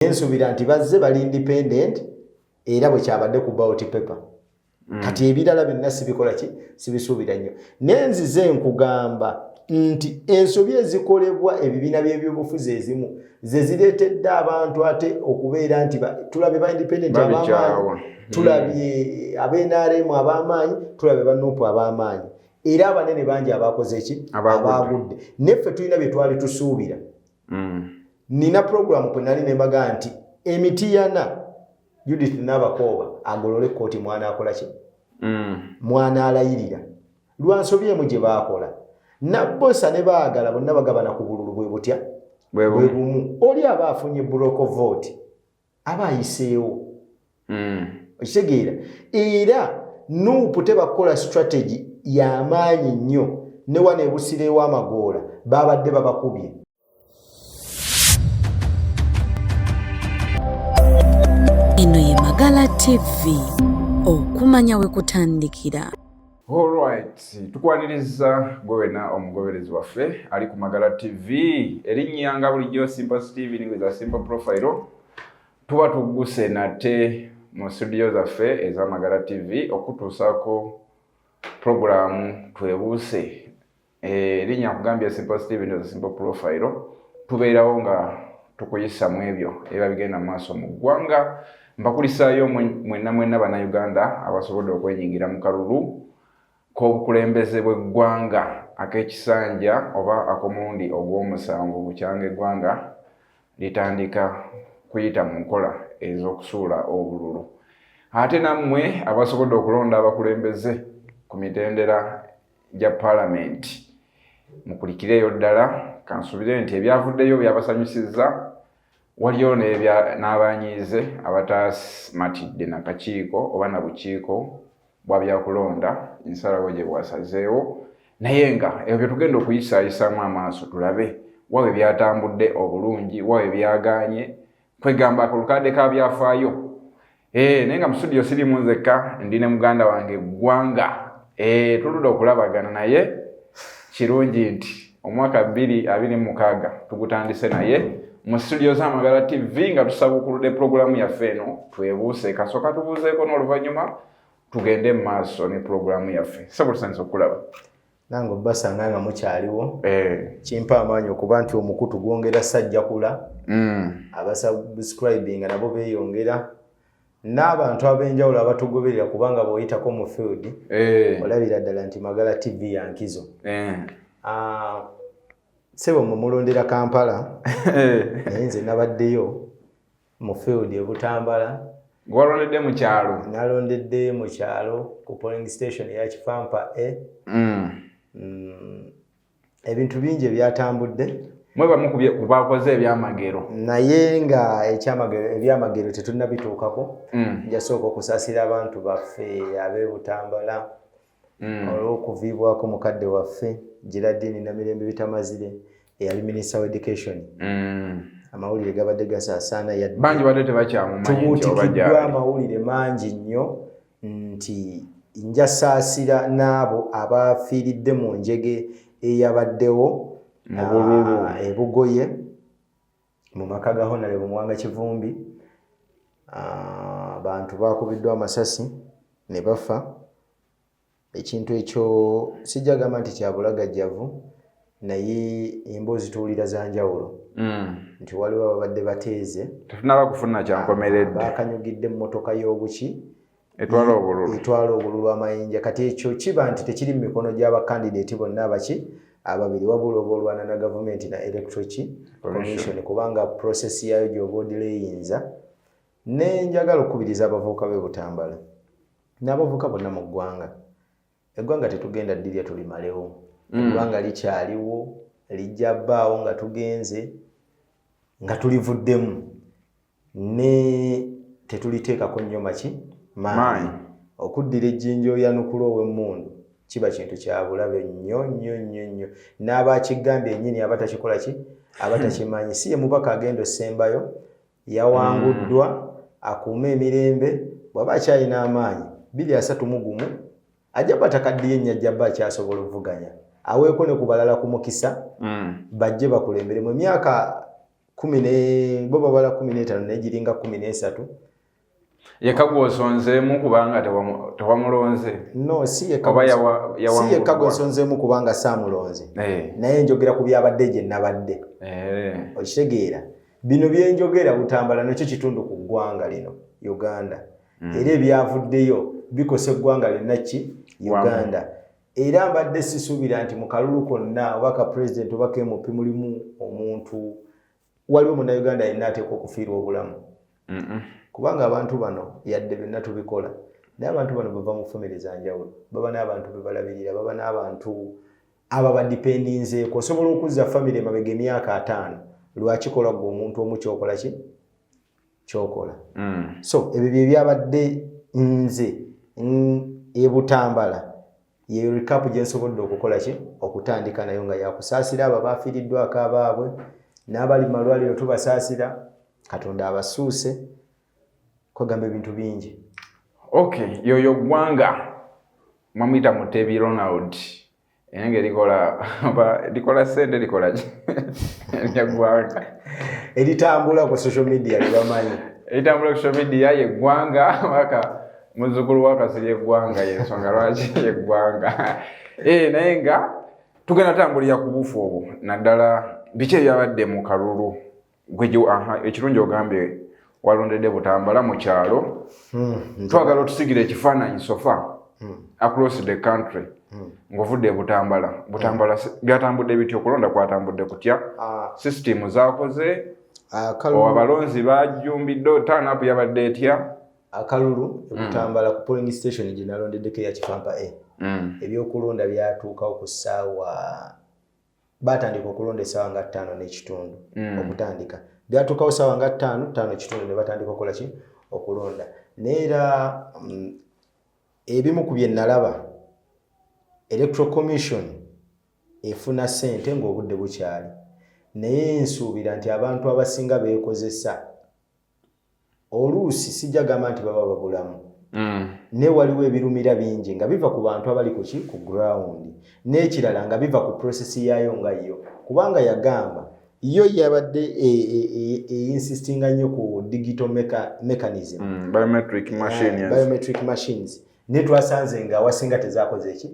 naye nsubira nti bazze bali independent era bwe kyabadde ku bawoti paper mm. kati ebirala byonna sibikola ki sibisuubira nnyo naye nzize nkugamba nti ensobi ezikolebwa ebibiina by'ebyobufuzi ezimu ze zireetedde abantu ate okubeera nti tulabye ba independent abamaanyi tulabye mm. abenrm ab'amaanyi tulabye banupu ab'amaanyi era abanene bangi abakoze ki abaagudde naye ffe tulina bye twali tusuubira mm. nina program kwe nali nembaga nti emitiyana judith nabakooba agolole kooti mwana akola ki mm. mwana alayirira lwansobi emu gye baakola nabbosa ne baagala bonna bagabana ku bululu bwe butya bwe bumu oli aba afunye broke vote aba ayiseewo hmm. okitegeera era nuupu tebakukola strategy yamaanyi nnyo ne wano ebusireewo amagoola babadde babakubye eno ye magala tv okumanya we kutandikira Alright, tukwaniriza gwe wena omugoberezi waffe ali ku Magala TV erinnya nga bulijjo Simple Steven with a simple profile tuba tugguse nate mu studio zaffe eza Magala TV okutuusaako pulogulaamu twebuuse Eh, linya kugambye simple steve ndio simple profile tubeerawo nga tukuyisa mu ebyo eba bigenda mu maaso mu ggwanga mbakulisaayo mwenna mwenna bannayuganda abasobodde okwenyingira mu kalulu k'obukulembeze bw'eggwanga ak'ekisanja oba ak'omulundi ogw'omusanvu bukyanga eggwanga litandika kuyita mu nkola ez'okusuula obululu ate nammwe abasobodde okulonda abakulembeze ku mitendera gya palamenti mukulikireeyo ddala kansubire nti ebyavuddeyo byabasanyusizza waliyo n'abanyiize abataasimatidde nakakiiko oba na bukiiko bwa byakulonda ensalawo gye bwasazeewo naye nga ebyo bye tugenda okuyisaayisaamu amaaso tulabe wawe byatambudde obulungi wawe byagaanye kwegamba akolukadde ka byafaayo eh, naye nga musudiyo sirimu nzekka ndi ne muganda wange eggwanga eh, tuludde okulabagana naye kirungi nti omwaka bbiri abiri mukaaga tugutandise naye mu situdiyo z'amagala tv nga tusabukuludde pulogulaamu yaffe eno twebuuse kasooka tubuuzeeko n'oluvannyuma tugende mu maaso ne pulogulaamu yaffe sabutusanyisa okukulaba nange obasanga nga mukyaliwo eh. kimpa amaanyi okuba nti omukutu gwongera sajjakula mm. abasubscribinga nabo beyongera n'abantu ab'enjawulo abatugoberera kubanga bw'oyitako mu field eh. olabira ddala nti magala tv ya nkizo eh. ah, sebo mumulondera kampala naye nze nabaddeyo mu field e Butambala. Gwalondedde mu kyalo? Nalondedde mu kyalo ku polling station ya Kifampa A. Mm. Mm. Ebintu bingi ebyatambudde. Mwe bamu ku bakoze ebyamagero. Naye nga ekyamagero ebyamagero tetunnabituukako. Mm. Njasooka okusasira abantu baffe ab'e Butambala. mm. olw'okuviibwako mukadde waffe Geraldine Namirembe Bitamazire eyali minisita wa education mm. amawulire gabadde gasaasaana yadtubuutikiddwa amawulire mangi nnyo nti njasaasira n'abo abafiiridde mu njege eyabaddewo ebugoye mu maka ga honalebo muwanga kivumbi abantu bakubiddwa amasasi ne bafa ekintu ekyo sijja gamba nti kyabulagajjavu naye emboozi tuwulira za njawulo mm. nti waliwo ababadde bateeze tetunaba kufuna kyankomeredde bakanyugidde emmotoka y'obuki etwala obululu etwala obululu amayinja kati ekyo kiba nti tekiri mu mikono gy'abakandideeti bonna abaki ababiri wabula oba olwana na gavumenti na electroki commission kubanga process yaayo gyoba odira eyinza ne njagala okukubiriza abavubuka be butambala n'abavubuka bonna mu ggwanga eggwanga tetugenda ddirya tulimalewo mm. eggwanga likyaliwo lijja bbaawo nga tugenze nga tulivuddemu ne tetuliteekako nnyo maki maanyi okuddira ejjinja oyanukula ow'emmundu kiba kintu kya bulabe nnyo nnyo nnyo nnyo n'aba akigamba ennyini aba takikola ki aba hmm. takimanyi si ye mubaka agenda osembayo yawanguddwa hmm. akuume emirembe bw'aba akyalina amaanyi biri asatu mu gumu ajja kuba takaddiye nnyajjaba akyasobola okuvuganya aweeko ne ku balala ku mukisa hmm. bajje bakulemberemu emyaka kumi ne bo babala kumi n'etaano naye giringa kumi n'esatu yekka gw'osonzeemu kubanga tewamulonze no si yekka gw'osonzeemu kubanga saamulonze eh. naye njogera ku byabadde gye nnabadde eh. okitegeera bino bye njogera butambala nakyo kitundu ku ggwanga lino uganda hmm. era ebyavuddeyo bikosa eggwanga lyonna ki uganda era mbadde sisuubira nti mu kalulu konna oba ka pulezidenti oba kemupi mulimu omuntu waliwo munauganda yenna ateekwa okufiirwa obulamu kubanga abantu bano yadde byonna tubikola naye abantu bano bava mu famire za njawulo baba n'abantu be balabirira baba n'abantu aba badipendinzeeko osobola okuzza famire emabega emyaka ataano lwakikola gwe omuntu omu kyokola ki kyokola mm. so ebyo byebyabadde nze ebutambala yeyo recap gyensobodde okukola ki okutandika nayo nga yakusaasira abo abafiiriddwako abaabwe n'abali malwaliro tubasaasira katonda abasuuse kwegamba ebintu bingi okay yoyo gwanga mwamuyita mutebi ronald eyange likola oba likola sente likola ki eggwanga eritambula ku social media libamanyi eritambula ku social media yeggwanga waka muzukulu wakasiri eggwanga yensonga lwaki yeggwanga eh, naye nga tugenda tambulira ku bufu obwo naddala biki ebyabadde mu kalulu ekirungi ogambye walondedde butambala mu kyalo hmm, twagala otusigira ekifaananyi sofa hmm. across the country hmm. ng'ovudde butambala butambala byatambudde bitya okulonda kwatambudde kutya ah. system zakoze ah, abalonzi bajjumbidde tanapu yabadde etya akalulu ebutambala ku polling station gye nalondeddeko eya kifampa a ebyokulonda byatuukawo ku ssaawa baatandika okulonda essaawa nga ttaano n'ekitundu mm. okutandika byatuukawo ssaawa nga ttaano ttaano ekitundu ne batandika okukola ki okulonda naye era mm, ebimu ku bye nalaba electoral commission efuna ssente ng'obudde bukyali naye nsuubira nti abantu abasinga beekozesa oluusi sijja gamba nti baba babulamu mm. naye waliwo ebirumira bingi nga biva ku bantu abali kuki ku ground n'ekirala nga biva ku process yaayo nga yo kubanga yagamba yo yabadde einsistinga e, e, e, nnyo ku digital mechanism mm, biometric ah, machines naye twasanze nga awasinga tezakoze eki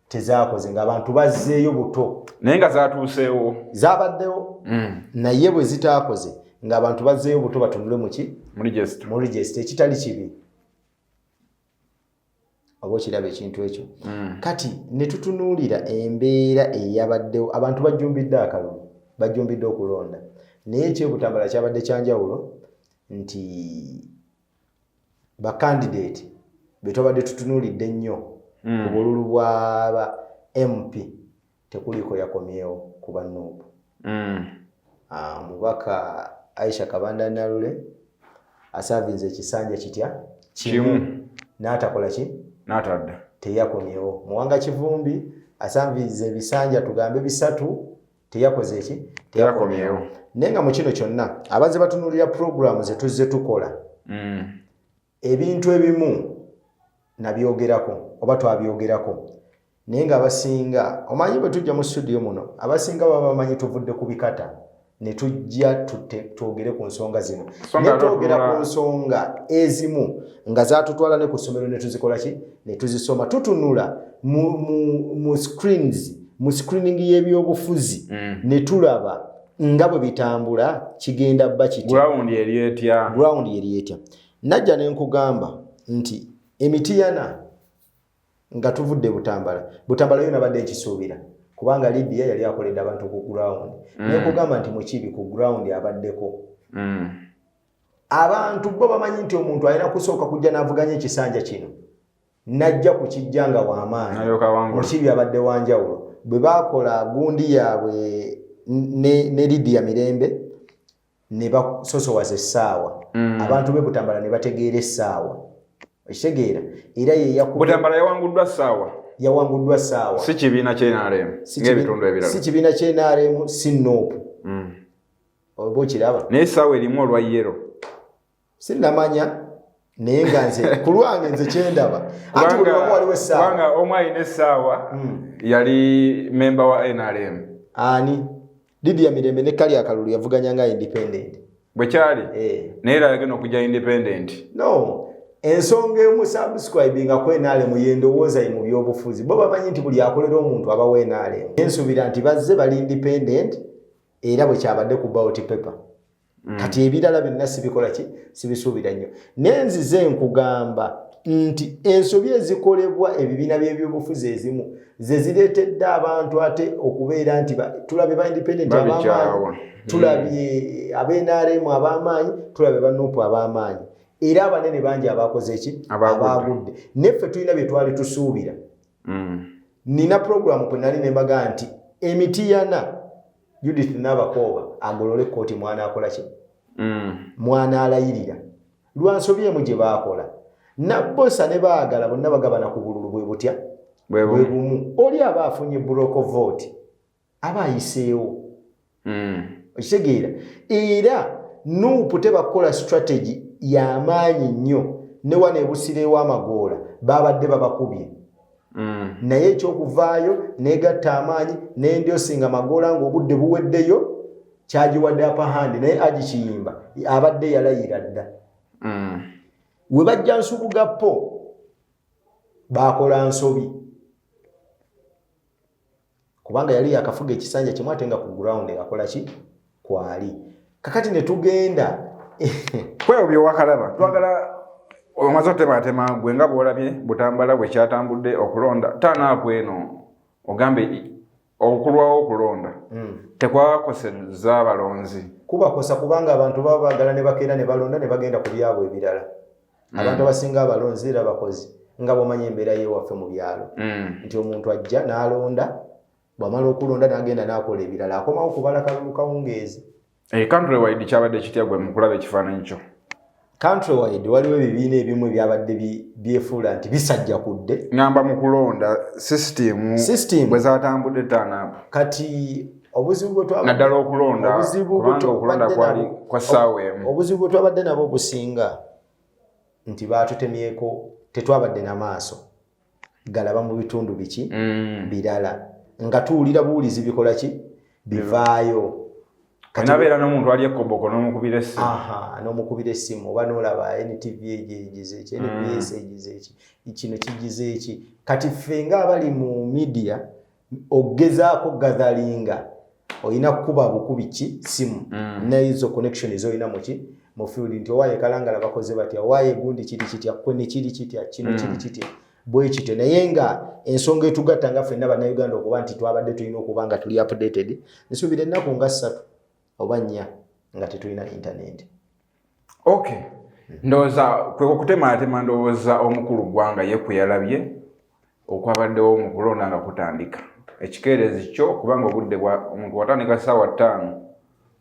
tezakoze nga abantu bazzeeyo buto naye nga zatuuseewo zabaddewo mm. naye bwe zitaakoze nga abantu bazzeeyo buto batunule muki mu regisita ekitali kibi oba okiraba ekintu ekyo mm. kati ne tutunuulira embeera eyabaddewo abantu bajjumbidde akalulu bajjumbidde okulonda naye ekyobutambala kyabadde kyanjawulo nti bakandideeti be twabadde tutunuulidde ennyo mm. ku bululu bwaba mp tekuliiko yakomyewo ku banuupu mm. ah, omubaka aisha kabanda nalule asaavinze ekisanja kitya kimu n'atakola ki n'atadda teyakomyewo muwanga kivumbi asanviiza ebisanja tugambe bisatu teyakoze ki teyakomyewo naye nga mu kino kyonna abazze batunuulira puroguramu ze tuzze tukola mm. ebintu ebimu nabyogerako oba twabyogerako naye nga abasinga omanyi bwe tujja mu studio muno abasinga baba bamanyi tuvudde ku bikata ne tujja twogere ku nsonga zino naye twogera ku nsonga ezimu nga zatutwala ne ku ssomero ne tuzikola ki ne tuzisoma tutunula mu screens mu screening y'ebyobufuzi mm. ne tulaba nga bwe bitambula kigenda bba kitground yeri etya najja ne nkugamba nti emitiyana nga tuvudde butambala butambala yo nabadde nkisuubira kubanga libya yali akoledde abantu ku ground mm. naye kugamba nti mukibi ku ground abaddeko mm. abantu bo bamanyi nti omuntu alina kusooka kujja n'avuganya ekisanja kino najja ku kijja nga wamaanyimukibi abadde wanjawulo bwe bakola gundi yaabwe ne lidiya mirembe ne basosowaza essaawa mm. abantu be butambala ne bategeera essaawa ekitegeera era yeyakubutambala yawanguddwa ssaawa yawanguddwa ssaawa si kibiina kyenaremu ngaebitundu ebirala si kibiina kyenaremu si noopu mm. oba okiraba naye essaawa erimu olwa yero sinamanya naye nga nze ku lwange nze kyendaba anti buli wamu waliwo essaawa omu alina essaawa hmm. yali memba wa nrm ani lidia mirembe ne kali akalulu yavuganya nga independent bwekyali eh. naye era yagenda okujja independent no ensonga emu subscribing nga kwenaale mu yendowooza ye mu byobufuzi bo bamanyi nti buli akolera omuntu aba wenaale ensubira nti bazze bali independent era bwe kyabadde ku bawoti paper mm. kati ebirala byonna sibikola ki sibisuubira nnyo naye nzize nkugamba nti ensobi ezikolebwa ebibiina by'ebyobufuzi ezimu ze zireetedde abantu ate okubeera nti tulabye ba independent abamaanyi tulabye mm. abenrm ab'amaanyi tulabye banupu ab'amaanyi era abanene bangi abakoze ki abaagudde naye ffe tulina bye twali tusuubira mm. nina puroguramu kwe nali ne mbaga nti emitiyana judith nabakooba agolole kooti mwana akola ki mm. mwana alayirira lwansobi emu gye baakola nabosa ne baagala bonna bagabana ku bululu bwe butya bwe bumu oli aba afunye broke vote aba ayiseewo mm. okitegeera era nuupu tebakukola strategy yamaanyi nnyo ne wano ebusireewo amagoola babadde babakubye mm. naye ekyokuvaayo negatta amaanyi nendyosinga magoola nga obudde buweddeyo kyagiwadde apahandi naye agikiyimba abadde yalayira dda mm. we bajja nsubugapo bakola nsobi kubanga yali yakafuga ekisanja kimu ate nga ku ground akola ki kwali kakati ne tugenda kwewo byowakalaba twagala omaze otematema gwe nga bwolabye butambala bwe kyatambudde okulonda tanaaku eno ogambe okulwawo okulonda hmm. tekwakoseza abalonzi kubakosa kubanga abantu baba bagala ne bakeera ne balonda ne bagenda ku byabwe ebirala mm. abantu abasinga abalonzi era bakozi nga bwomanya embeera yewaffe mu byalo mm. nti omuntu ajja n'alonda bwamala okulonda n'agenda n'akola ebirala akomawo kubala kalulu kawungeezi eh, country wide kyabadde kitya gwe mukulaba ekifaananyi kyo country wide waliwo ebibiina ebimu ebyabadde byefuula nti bisajja kudde ngamba mu kulonda system system bwe zatambudde taanaku kati obuzibu bwetnaddala okulonda kubanga okulonda kwali kwa ssaawa emu obuzibu bwe twabadde nabo obusinga nti baatutemyeko tetwabadde na maaso galaba mu bitundu biki mm. birala nga tuwulira buwulizi bikola ki bivaayo nabeera nomuntu ali ekoboko nomukubira essimu nomukubira essimu oba nolaba ntv egyo egize eki nbs mm. egize eki kino kigize eki kati ffe nga abali mu midia ogezaako gatheringa olina kukuba bukubi ki simu mm. nezo connection ezolina muki mu field nti owaye kalangala bakoze batya owaye gundi kiri kitya kwe ne kiri kitya kino mm. kiri kitya bwe kityo naye nga ensonga etugatta nga fenna bannayuganda okuba nti twabadde tulina okuba nga tuli updated nsuubira ennaku nga ssatu oba nnya nga tetulina intaneti ok ndowooza kwe kukutemaatema ndowooza omukulu ggwanga ye kwe yalabye okwabaddewo mu kulonda nga kutandika ekikeerezi kyo kubanga obudde bwa omuntu watandika ssaawa ttaano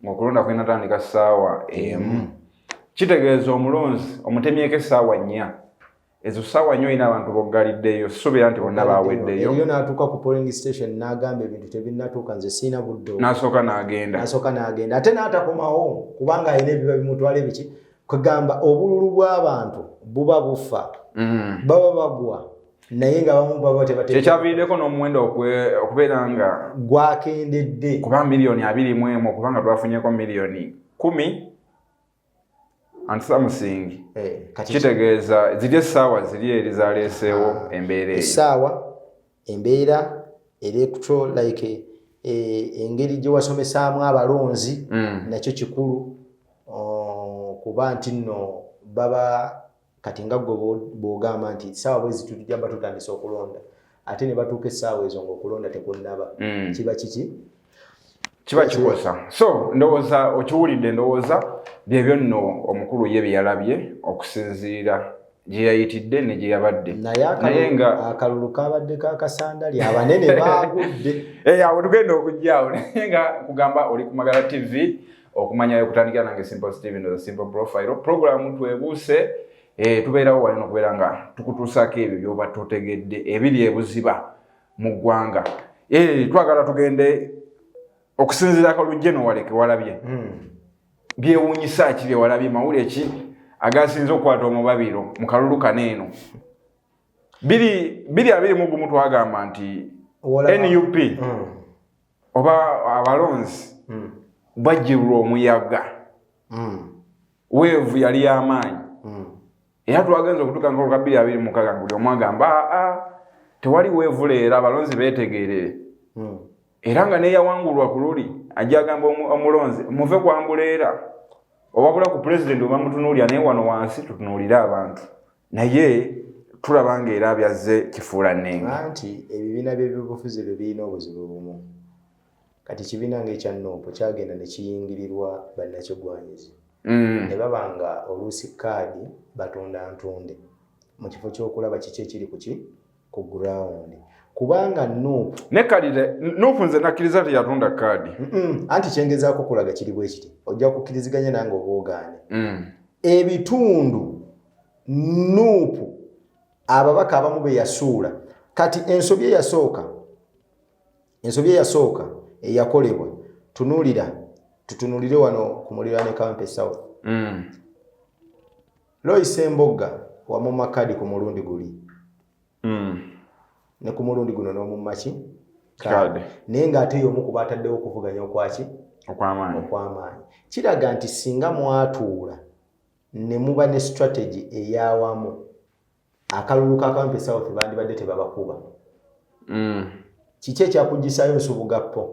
ng'okulonda kwinatandika ssaawa emu kitegeeza omulonzi omutemyeko essaawa nnya ezo sawa nyo ina abantu bogaliddeyo subira nti bonna baweddeyo eyo natuka ku polling station nagamba ebintu tebinatuka nze sina buddo nasoka nagenda nasoka nagenda ate natakomawo kubanga ayina ebiba bimutwala ebiki kwegamba obululu bw'abantu buba bufa mm. baba bagwa naye nga bamu baba tebatekyavirideko n'omuwendo okubeera nga gwakendedde kuba miliyoni abiri mu emu okubanga twafunyeko miliyoni kumi ansamusingi eh, kitegeeza ziri essaawa ziri eri zaleeseewo ah, embeera essaawa embeera electro like eh, engeri gye wasomesaamu abalonzi mm. nakyo kikulu oh, kuba nti nno baba kati nga gwe bwogamba nti saawa bwezi tutujamba tutandisa okulonda ate ne batuuka essaawa ezo ngaokulonda tekunnaba mm. kiba kiki kiba kikosa so ndowooza okiwulidde ndowooza byebyo nno omukulu ye byeyalabye okusinziira gyeyayitidde ne gyeyabadde naye nga akalulu kabadde kakasandali abanene baagudde eh, awo tugenda okujjaawo naye nga kugamba oli ku magala tv okumanya okutandikira nange simple steven the simple profile programu twebuuse eh, tubeerawo wali nokubeera nga tukutuusaako ebyo byoba totegedde ebiri ebuziba mu ggwanga eh, twagala tugende okusinziira akalujje nowaleke walabye hmm. byewunyisa ki byewalabye mawule ki agasinza okukwata omubabiro mu kalulu kano eno biri abiri mugumu twagamba nti nup hmm. oba abalonzi hmm. bajjirwa omuyaga hmm. weevu yali yamaanyi hmm. era twagenza okutuka nkolo ka bbiri abiri mukaga nga buli omu agamba aa ah, ah, tewali weevu leero abalonzi beetegeerere era nga neyawangulwa ku luli ajja agamba omulonzi muve kwambuleera owabula ku pulezidenti oba mutunuulira naye wano wansi tutunuulire abantu naye tulaba nga era byazze kifuula nenga nti ebibiina by'ebyobufuzi ebyo birina obuzibu bumu kati ekibiina ngaekya noopu kyagenda ne kiyingirirwa bannakigwanyizi mm. ne baba nga oluusi kaadi batunda ntunde mu kifo ky'okulaba kiki ekiri kuki ku ground kubanga nup ne kalire nup nze nakkiriza nti yatunda kaadi anti kyengezaako kulaga kiri bwe kiti ojja kukkiriziganya nange obwogaane mm. ebitundu nup ababaka abamu be yasuula kati ensobi eyasooka ensobi eyasooka eyakolebwa tunuulira tutunulire wano ku muliraane kampe south mm. Lois Embogga wamumma kaadi ku mulundi guli mm. ne ku mulundi guno n'omumma ki kaadi naye ng'ate y'omu ku baataddewo okuvuganya okwaki okwamaanyi okwamaanyi kiraga nti singa mwatuula ne muba ne strategy eyawamu akalulu ka kampi south bandibadde tebabakuba mm. kiki ekyakugisayo nsubuga po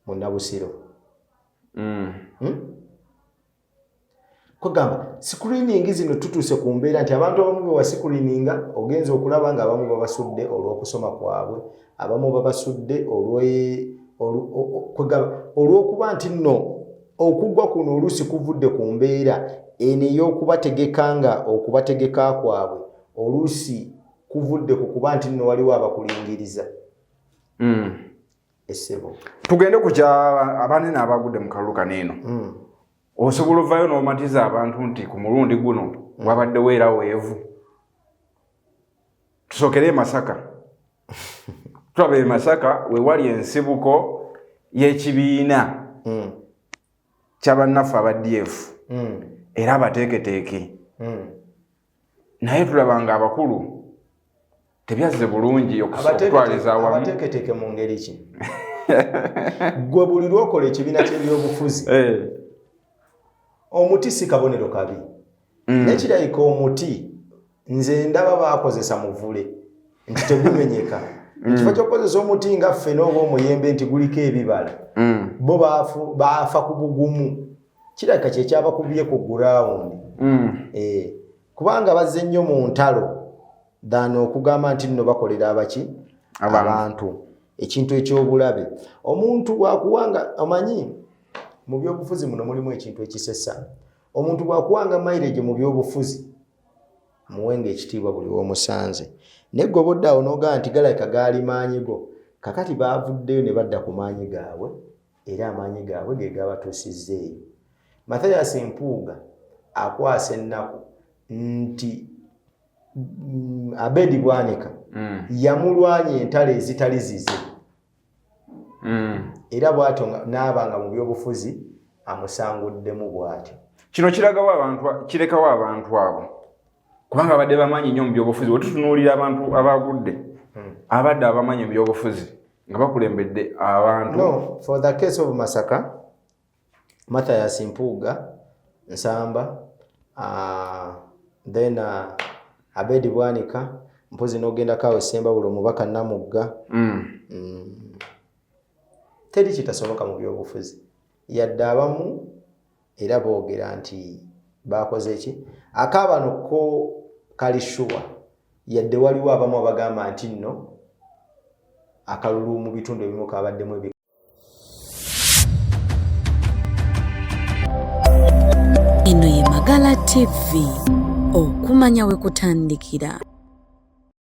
munabusiro mm. hmm? kwegamba screening zino tutuuse ku mbeera nti abantu abamu bewa screeninga ogenza okulaba nga abamu babasudde olw'okusoma kwabwe abamu babasudde kwegamba olw'okuba nti nno okugwa kuno oluusi kuvudde ku mbeera eno ey'okubategeka nga okubategeka kwabwe oluusi kuvudde ku kuba nti nno waliwo abakulingiriza mm. essebo tugende ku kya abanene abagudde mu kalulu kano eno mm. osobola ovayo n'omatiza abantu nti ku mulundi guno mm. wabadde weera weevu tusokere emasaka tulaba emasaka wewali ensibuko y'ekibiina mm. kyabannaffe aba df era abateeketeeke naye tulaba nga abakulu tebyazze bulungi okutwaliza awamuabateketeke mu ngeri ki gwe buli lwokola ekibiina kyebyobufuzi eh. omuti si kabonero kabi mm. naye kirabika omuti nze ndaba bakozesa muvule nti tegumenyeka mm. ekifo kyokukozesa omuti nga ffena oba omuyembe nti guliko ebibala mm. bo baafa ku bugumu kirabika kyekyabakubbye ku gurawundi mm. eh, kubanga bazze nnyo mu ntalo than okugamba nti nno bakolera abaki abantu ekintu ekyobulabe omuntu wakuwanga omanyi mu byobufuzi muno mulimu ekintu ekisesa omuntu bwakuwanga mairege mu byobufuzi muwenga ekitiibwa buli womusanze naye gobodde awo nogaa nti galabika gaali maanyi go kakati baavuddeyo ne badda ku maanyi gaabwe era amaanyi gaabwe ge gaabatuusizza eyo mathayas mpuuga akwasa ennaku nti mm, abedi bwanika mm. yamulwanya entalo ezitali zize mm. era bwatyo naaba nga mu byobufuzi amusanguddemu bwatyo kino kiragawo abantu kirekawo abantu abo kubanga abadde bamanyi nnyo mu byobufuzi wetutunuulira abantu abagudde hmm. abadde abamanyi mu byobufuzi nga bakulembedde abantu no, for the case of masaka mathias mpuuga nsamba uh, then uh, abedi bwanika mpozi nogenda kawe semba bulo mubaka namugga mm. mm. teri kitasoboka mu byobufuzi yadde abamu era boogera nti baakoze ki akaabano ko kali shuwa yadde waliwo abamu abagamba nti nno akalulu mu bitundu ebimu kabaddemu ebi eno ye magala tv okumanya we kutandikira